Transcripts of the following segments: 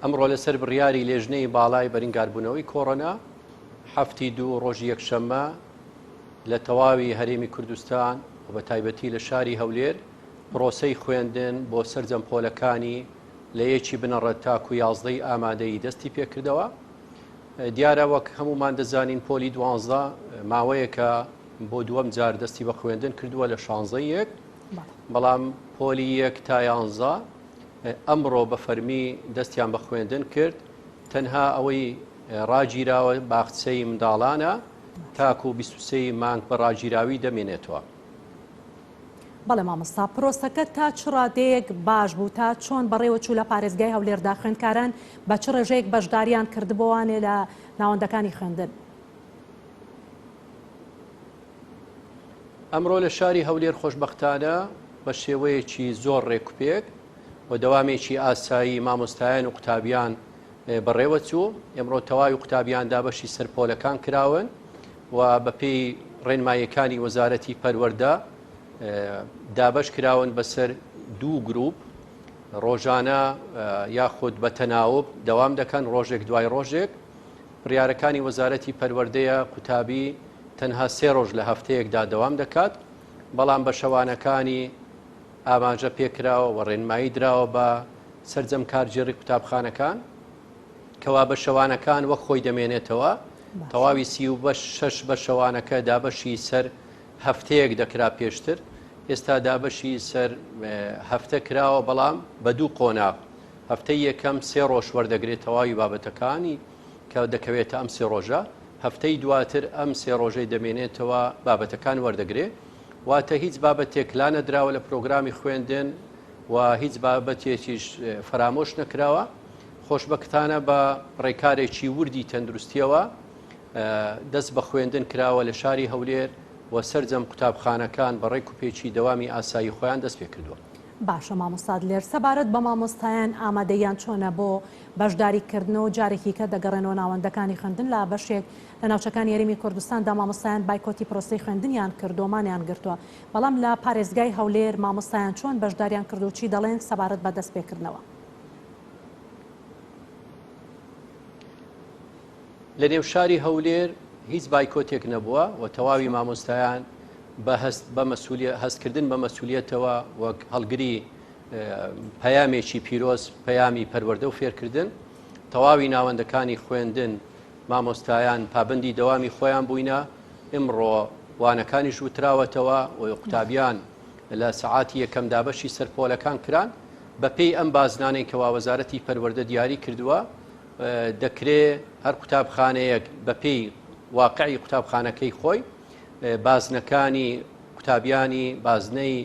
ئەمڕۆ لەسەر بڕیاری لێژنەی باڵای بەرنگاربوونەوەی کۆڕۆنا هەفتی دوو ڕۆژی یەکشەممە لە تەواوی هەرێمی کوردستان و بە تایبەتی لە شاری هەولێر پرۆسەی خوێندن بۆ سەرجەم پۆلەکانی لە یەکی بنەڕەت تاکو یازدەی ئامادەی دەستی پێکردەوە دیارە وەک هەمومان دەزانین پۆلی دوانزە ماوەیەکە بۆ دووەم جار دەستی بە خوێندن کردووە لە شانزە یەک بەڵام پۆلی یەک تا یانزە ئەمڕۆ بە فەرمی دەستیان بە خوێندن کرد تەنها ئەوەی ڕاگیراوە باخچەی منداڵانە تاکو و 23 مانگ بە ڕاگیراوی دەمێنێتەوە. بەڵێ مامۆستا پرۆسەکە تا چ ڕادەیەک باش بوو تا چۆن بەڕێوە چوو لە پارێزگای هەولێردا خوێندکاران بە چ ڕێژەیەک بەشداریان کردبووانێ لە ناوەندەکانی خوێندن ئەمڕۆ لە شاری هەولێر خۆشبەختانە بە شێوەیەکی زۆر ڕێکوپێک و دەوامێکی ئاسایی مامۆستایان و قوتابیان بەڕێوە چوو ئەمڕۆ تەواوی قوتابیان دابەشی سەرپۆلەکان کراون و بەپی ڕێنمایەکانی وەزارەتی پەروەەردە دابش کراون بەسەر دوو گروپ ڕۆژانە یاخود بە تەناوب دەوام دەکەن ڕۆژێک دوای ڕۆژێک بڕیارەکانی وەزارەتی پەروەردەیە قوتابی تەنها سێ ڕۆژ لە هەفتەیەکدا دەوام دەکات، بەڵام بە شەوانەکانی ئاماژە پێکراوە و ڕێنمایی دراوە بە سەرجەم کارگێڕی قوتابخانەکان کەوا بە شەوانەکان وەک خۆی دەمێنێتەوە، تەواوی سی و شەش بە شەوانەکە دابەشی سەر هەفتەیەک دەکرا پێشتر، ئێستا دابەشی سەر هەفتە کراوە بەڵام بە دوو قۆناغ. هەفتەی یەکەم سێ ڕۆژ وەردەگرێت تەواوی بابەتەکانی کە دەکەوێتە ئەم سێ ڕۆژە هەفتەی دواتر ئەم سێ ڕۆژەی دەمێنێتەوە بابەتەکان وەردەگرێ واتە هیچ بابەتێک لا نەدراوە لە پرۆگرامی خوێندن و هیچ بابەتێکیش فەرامۆش نەکراوە خۆشببختانە بە ڕێکارێکی وردی تەندروستیەوە دەست بە خوێندن کراوە لە شاری هەولێر و سرجەم قوتابخانەکان بە ڕێک و پێچی دەوامی ئاسایی خۆیان دەست پێ کردووە. باشە مامۆستا دلێر سەبارەت بە مامۆستایان ئامادەییان چۆنە بۆ بەشداری کردنەوە جارێکیکە دەگەڕێنەوە ناوەندەکانی خوێندن لە بەشێک لە ناوچەکانی هەرێمی کوردستاندا مامۆستایان بایکۆتی پرۆسەی خوێندنیان کردووە مانیان گرتووە بەڵام لە پارێزگای هەولێر مامۆستایان چۆن بەشداریان کردو چی دەڵێن سەبارەت بە دەستپێکردنەوە. لە نێو شاری هەولێر هیچ بایکۆتێک نەبووە و تەواوی مامۆستایان بە هەست بە مەسوولیە هەستکردن بە مەسوولیەتەوە وەک هەڵگری پەیامێکی پیرۆز پەیامی پەروەردە و فێرکردن تەواوی ناوەندەکانی خوێندن مامۆستایان پابندی دەوامی خۆیان بووینە ئمڕۆ وانەکانیش وتراوەتەوە و قوتابیان لە سەعاتی یەکەم دابەشی سەرپۆلەکان کران بەپێی ئەم بازنانەی کەوا وەزارەتی پەروەردە دیاری کردووە دەکرێ هەر قوتابخانەیەک بەپێی واقعی قوتابخانەکەی خۆی بازنەکانی قوتابیانی بازنەی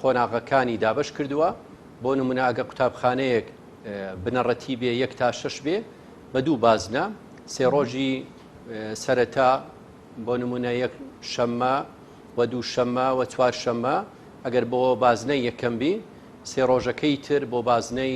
قۆناغەکانی دابش کردووە بۆ نمونە ئەگە قوتابخانەیەک بنەڕەتی بێ یەک تا شش بێ بە دوو بازنە سێ ڕۆژی سەرەتا بۆ نمونە یەک شەممە و دوو شەممە و چوار شەممە ئەگەر بۆ بازنەی یەکەم بی سێ ڕۆژەکەی تر بۆ بازنەی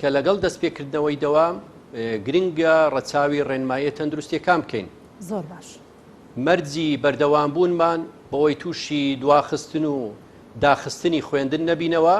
کە لەگەڵ دەستپێکردنەوەی دەوام گرنگە ڕەچاوی ڕێنماییە تەندروستییەکان بکەین. زۆر باش. مەرجی بەردەوامبوونمان بۆی تووشی دواخستن و داخستنی خوێندن نەبینەوە،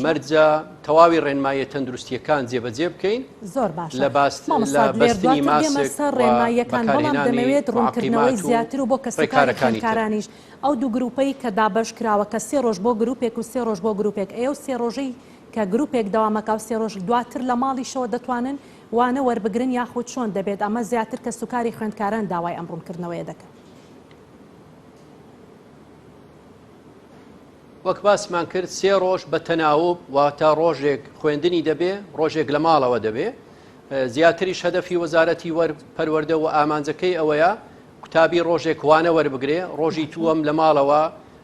مەرجە تەواوی ڕێنماییە تەندروستییەکان جێبەجێ بکەین. زۆر باشە. لە باست مامۆستا لێر دواتر دێمە سەر ڕێنماییەکان، بەڵام دەمەوێت ڕوونکردنەوەی زیاتر و بۆ کەسوکاری خوێندکارانیش، ئەو دوو گرووپەی کە دابەشکراوە کە سێ ڕۆژ بۆ گرووپێک و سێ ڕۆژ بۆ گرووپێک، ئەی ئەو سێ ڕۆژەی، کە گروپێک دەوامەکاو سێ رۆژ دواتر لە ماڵیشەوە دەتوانن وانە وەربگرن یاخود چۆن دەبێت ئەمە زیاتر کەسوکاری خوێندکاران داوای ئەم روونکردنەوەیە دەکەن. وەک باسمان کرد سێ رۆژ بە تەناوب واتە رۆژێک خوێندنی دەبێ رۆژێک لە ماڵەوە دەبێ زیاتریش هەدەفی وەزارەتی وەر پەروەردە و ئامانجەکەی ئەوەیە قوتابی رۆژێک وانە وەربگرێ رۆژی تووەم لە ماڵەوە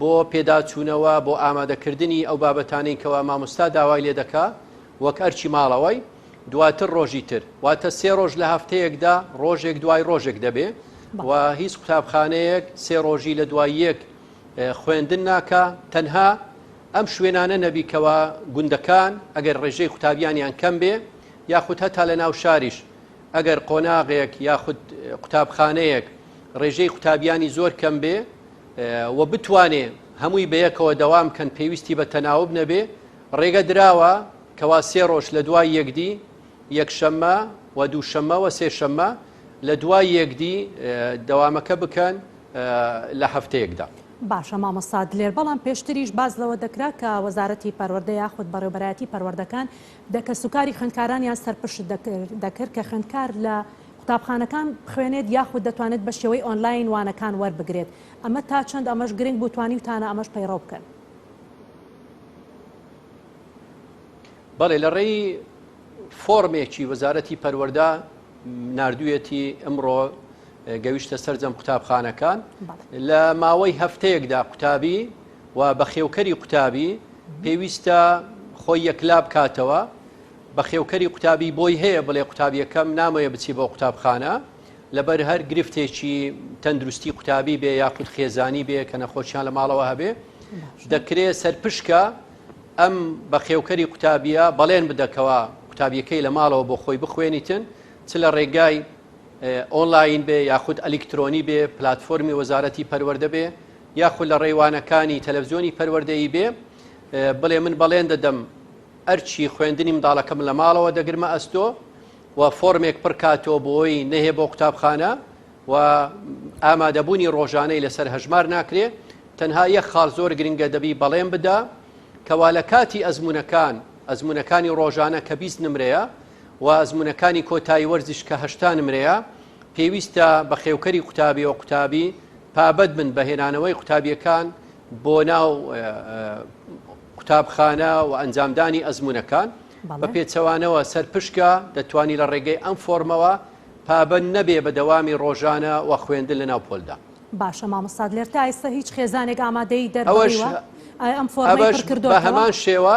بۆ پێداچوونەوە بۆ ئامادەکردنی ئەو بابەتانەی کەوا مامۆستا داوای لێ دەکا وەک ئەرکی ماڵەوەی دواتر ڕۆژی تر واتە سێ ڕۆژ لە هەفتەیەکدا ڕۆژێک دوای ڕۆژێک دەبێ و هیچ قوتابخانەیەک سێ ڕۆژی لە دوای یەک خوێندن ناکە تەنها ئەم شوێنانە نەبیکەوە گوندەکان ئەگەر ڕێژەی قوتابیانیان کەم بێ یاخود هەتا لە ناو شاریش ئەگەر قۆناغێک یاخود قوتابخانەیەک ڕێژەی قوتابیانی زۆر کەم بێ و بتوانێ هەمووی بەیەکەوە دەوام کەن پێویستی بە تەناوب نەبێ ڕێگە دراوە کەوا سێ ڕۆژ لە دوای یەکدی یەکشەممە و دووشەممە وە سێشەممە لە دوای یەکدی دەوامەکە بکەن لە هەفتەیەکدا. باشە مامۆستا دلێر بەڵام پێشتریش باس لەوە دەکرا کە وەزارەتی پەروەردە یاخود بەڕێوبەرایەتی پەروەردەکان دە کەسوکاری خوێندکارانیان سەرپشت دەکرد کە خوێندکار لە قوتابخانەکان بخوێنێت یاخود دەتوانێت بە شێوەی ئۆنلاین وانەکان وەربگرێت ئەمە تا چەند ئەمەش گرنگ بوو توانیوتانە ئەمەش پەیڕەو بکەن؟ بەڵێ لە ڕێی فۆڕمێکی وەزارەتی پەروەردە نردویەتی ئەمڕۆ گەویشتە سەررجەم قوتابخانەکان لە ماوەی هەفتەیەکدا قوتابی و بەخێوکەری قوتابی پێویستە خۆی یەکلا بکاتەوە بەخێوکەری قوتابی بۆی هەیە بڵێ قوتابیەکەم نامەوێ بچی بۆ قوتابخانە لەبەر هەر گرفتێکی تەندروستی قوتابی بێ یاخود خێزانی بێ کە نەخۆشیان لە ماڵەوە هەبێ دەکرێت سەرپشکە ئەم بەخێوکەری قوتابیە بەڵێن بدەکەوە قوتابیەکەی لە ماڵەوە بۆ خۆی بخوێنیتن چ لە ڕێگای ئۆنلاین بێ یاخود ئەلیکترۆنی بێ پلتفۆرمی وەزارەتی پەروەەردە بێ یاخود لە ڕێوانەکانی تەلەڤزیۆنی پەروەەردەیی بێ بڵێ من بەڵێن دەدەم ئەرکی خوێندنی منداڵەکەم لە ماڵەوە دەگرمە ئەستۆ و فۆرمێک پڕ کاتەوە بۆی نەهێ بۆ قوتابخانە و ئامادەبوونی ڕۆژانەی لەسەر هەژمار ناکرێ تەنها یەک خاڵ زۆر گرنگە دەبی بەڵێن بدا کەوا لە کاتی ئەزمونونەکان ئەزمونونەکانی ڕۆژانە کە بیست نمرەیە و ئەزمونونەکانی کۆتایی وەرزش کە هەشتا نمرەیە پێویستە بە خێوکەری قوتابی و قوتابی پابەت بن بەهێنانەوەی قوتابیەکان بۆ ناو قوتابخانە و ئەنجامدانی ئەزمونونەکان بە پێچەوانەوە سەرپشکە دەتوانانی لە ڕێگەی ئەم فۆرمەوە پابند نەبێ بە دەوامی ڕۆژانە و خوێندن لە ناو پۆلدا باشە مامۆستاد لێر تا ئێستا هیچ خێزانێک ئامادەی دەرەوەش ئەم فۆرمەش کردو هەمان شێوە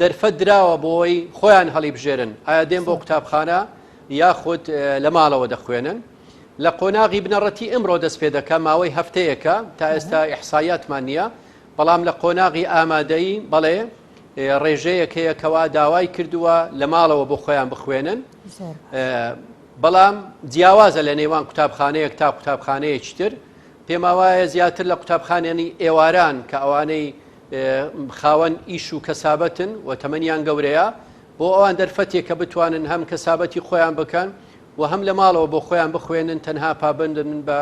دەرفەت دراوە بۆی خۆیان هەڵیبژێرن ئایا دێن بۆ قوتابخانە یاخود لە ماڵەوە دەخوێنن. لە قۆناغی بنەڕەتی ئمڕۆ دەست پێ دەکە ماوەی هەفتەیەکە تا ئێستا ئیحسایاتمان نییە، بەڵام لە قۆناغی ئامادەیی بەڵێ ڕێژەیەک هەیە کەوا داوای کردووە لە ماڵەوە بۆ خۆیان بخوێنن بەڵام جیاوازە لە نێوان قوتابخانەیەک تا قوتابخانەیەکی تر پێماوایە زیاتر لە قوتابخانێنی ئێواران کە ئەوانەی خاوەن ئیش و کەسابەتن و تەمەنیان گەورەیە، بۆ ئەوان دەرفەتێک کە بتوانن هەم کەسابەتی خۆیان بکەن و هەم لە ماڵەوە بۆ خۆیان بخوێنن تەنها پابەندن بە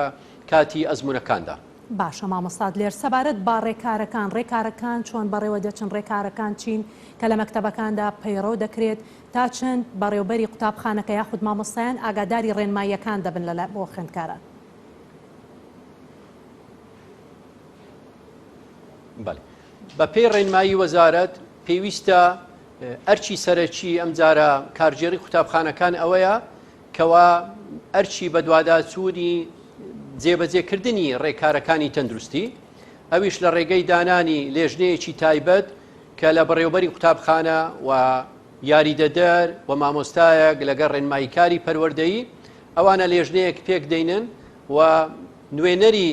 کاتی ئەزموونەکاندا. باشە مامۆستا دلێر سەبارەت بە ڕێکارەکان ڕێکارەکان چۆن بەڕێوە دەچن ڕێکارەکان چین کە لە مەکتەبەکاندا پەیڕەو دەکرێت تا چەند بەڕێوبەری قوتابخانەکە یاخود مامۆستایان ئاگاداری ڕێنماییەکان دەبن لە بۆ خوێندکاران؟ بەپێی ڕێنمایی وەزارەت پێویستە ئەرچی سەرەکی ئەم جارە کارگێڕی قوتابخانەکان ئەوەیە کەوا ئەرچی بەدواداچوونی جێبەجێکردنی ڕێکارەکانی تەندروستی ئەویش لە ڕێگەی دانانی لێژنەیەکی تایبەت کە لە بەڕێوبەری قوتابخانە و یاریدەدەر و مامۆستایەک لەگە ڕێنماییکاری پەروەردەیی ئەوانە لێژنەیەک پێک دەینن و نوێنەری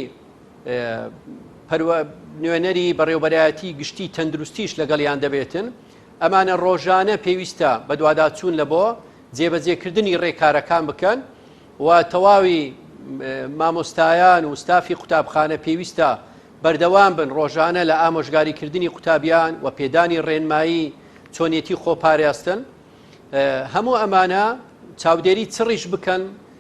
پەروە نوێنەری بەڕێوبەرایەتی گشتی تەندروستیش لەگەڵیان دەبێتن، ئەمانە ڕۆژانە پێویستە بەدواداچوون لە بۆ جێبەجێکردنی ڕێکارەکان بکەن و تەواوی مامۆستایان و ستافی قوتابخانە پێویستە بەردەوام بن ڕۆژانە لە ئامۆژگاریکردنی قوتابیان و پێدانی ڕێنمایی چۆنیەتی خۆپاراستن هەموو ئەمانە چاودێری چڕیش بکەن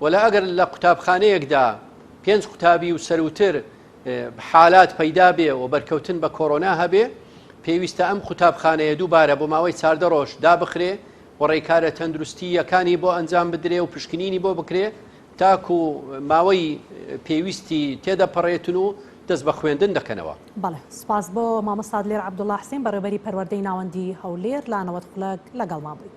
وەلا ئەگەر لە قوتابخانەیەکدا پێنج قوتابی و سەرووتر حالات پەیدا بێ و بەرکەوتن بە کۆرۆنا هەبێ پێویستە ئەم قوتابخانەیە دووبارە بۆ ماوەی چاردە ڕۆژ دابخرێ و ڕێکارە تەندروستی یەکانی بۆ ئەنجام بدرێ و پشکنینی بۆ بکرێ تاکو ماوەی پێویستی تێدەپەڕێتن و دەست بە خوێندن دەکەنەوە بەڵێ سپاس بۆ مامۆستاد لێر عبدوڵاحسین بەڕێبەری پەروەردەی ناوەندی هەولێر لانەوەت خولەک لەگەڵمان بوویت.